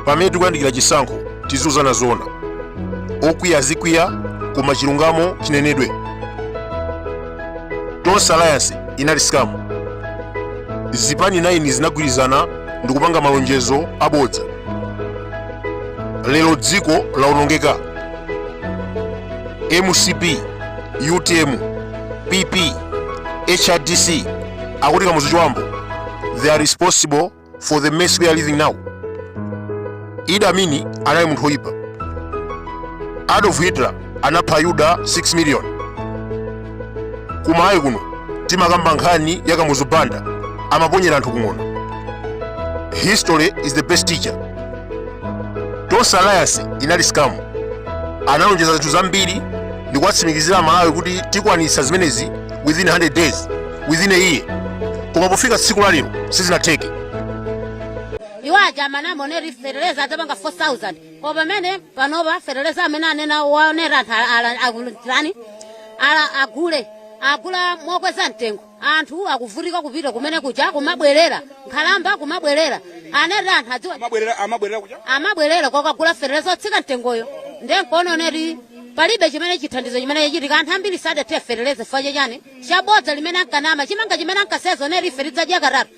pamene tikuyandikira chisankho tiziuzana zoona okwiya azikwiya koma chilungamo chinenedwe tonse alliance inali scam zipani 9 zinagwirizana ndikupanga malonjezo abodza lero dziko lawonongeka mcp utm pp hrdc akuti kamuzu chiwambo they are responsible for the mess we are living now idi amin anali munthu woyipa adolf hitler anapha ayuda 6 million kumalawi kuno timakamba nkhani ya kamuzu banda amaponyera anthu kung'ona history is the best teacher tonse alliance inali scam analonjeza zinthu zambiri ndi kuwatsimikizira amalawi kuti tikwanitsa zimenezi within 100 days within a year koma pofika tsiku la lero sizinatheke iwo aja amene amanena kuti feteleza adzapanga 4000 koma pamene panopa feteleza amene anena kuti anthu ala- ala- akulani ala agule agula mokweza mtengo anthu akuvutika kupita kumene kuja kumabwerera nkhalamba kumabwerera anati anthu adziwa amabwerera kokagula feteleza otsika mtengoyo ndiye nkuona kuti palibe chimene chithandizo chimene chachitika anthu ambiri sadathire feteleza chifukwa chachani chabodza limene ankanama chimanga chimene ankalonjeza kuti ife tidzadya katatu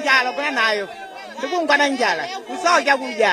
njala kula nayo tikungwa na njala kusowa chakudya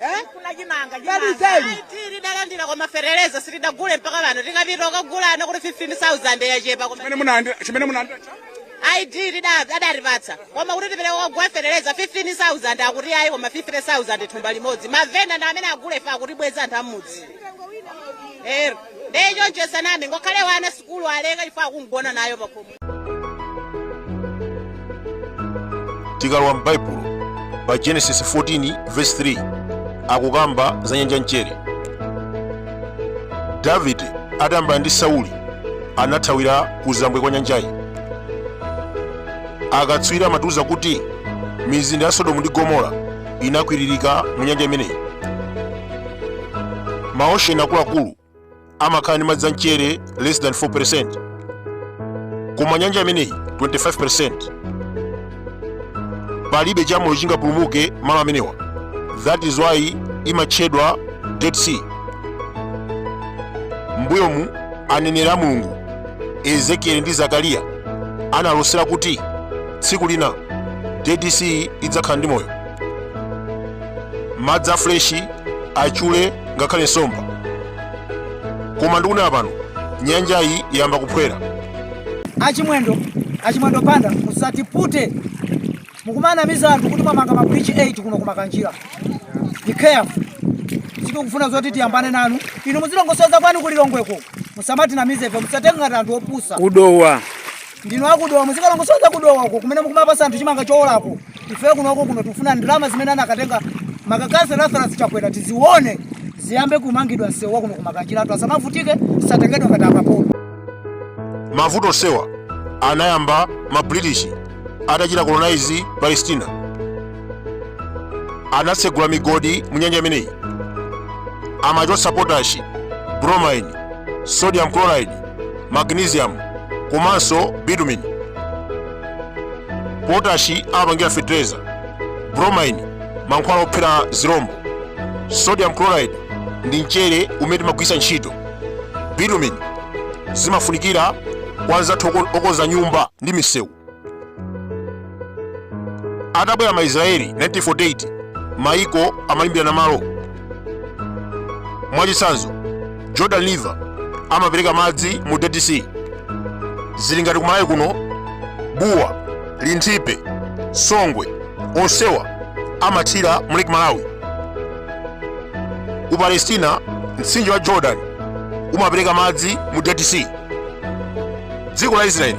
Eh? Kuna chimanga Kali chimanga. ID tidalandira koma feteleza sitidagule mpaka pano tikapita kukagula akuti 15000 yachepa koma Chimene munalandira chimene munalandira ID adatipatsa koma kuti tipite kukagula feteleza 15000 akuti ayi koma 50000 thumba limodzi mavenda ndi amene agule ife akutibweza anthu amudzi ndiye icho nchosanama ngakhale wana sukulu aleka chifukwa akugona nayo pakhomo tikalowa m'baibulo pa genesis 14 verse 3 akukamba za nyanja ya mchere davide atayambana ndi sauli anathawira kuzambwe kwa nyanjayi akatswiri amatiuza kuti mizinda ya sodomu ndi gomora inakwiririka mu nyanja imeneyi maosheni akuluakulu amakhala ndi madzi amchere less than 4% koma nyanja imeneyi 25% palibe chamoyo chingapulumuke malo amenewa that is why imatchedwa dead sea mbuyomu aneneri a mulungu ezekieli ndi zakariya analosera kuti tsiku lina dead sea idzakhala ndi moyo madzi a freshi achule ngakhale nsomba koma ndikunena pano nyanjayi yamba kuphwera achimwendo achimwendo banda musatipute mukumanamiza anthu kuti mwamanga ma bridge 8 kuno kumakanjira be careful sikufuna zoti tiyambane nanu inu muzilongosoza kwanu kulilongweko musamatinamize ife musatenge ngati anthu opusa kudowa ndinu akudowa muzikalongosoza kudowa uko kumene mukumapasa anthu chimanga chowolako ife kuno tikufuna ndalama zimene anakatenga makakasa Lazarus chakwera tizione ziyambe kumangidwa msewu wakuno kumakanjira anthu asamavutike tisatengedwe ngati akapolo mavuto onsewa anayamba ma british atachita colonize palestina anatsegula migodi mu nyanja imeneyi amachotsa potashi bromine sodium chloride magnesium komanso bitumen potashi amapangira fetereza bromine mankhwala ophera zirombo sodium chloride ndi mchere umene timagwiritsa ntchito bitumen zimafunikira kwa anzathu okonza nyumba ndi misewu atabwera ma Israeli 1948 maiko amalimbirana malo mwachitsanzo Jordan River amapereka madzi mu Dead Sea zili ngati kumalawi kuno buwa linthipe songwe onsewa amathira mu Lake Malawi ku Palestina mtsinje wa Jordan umapereka madzi mu Dead Sea dziko la Israeli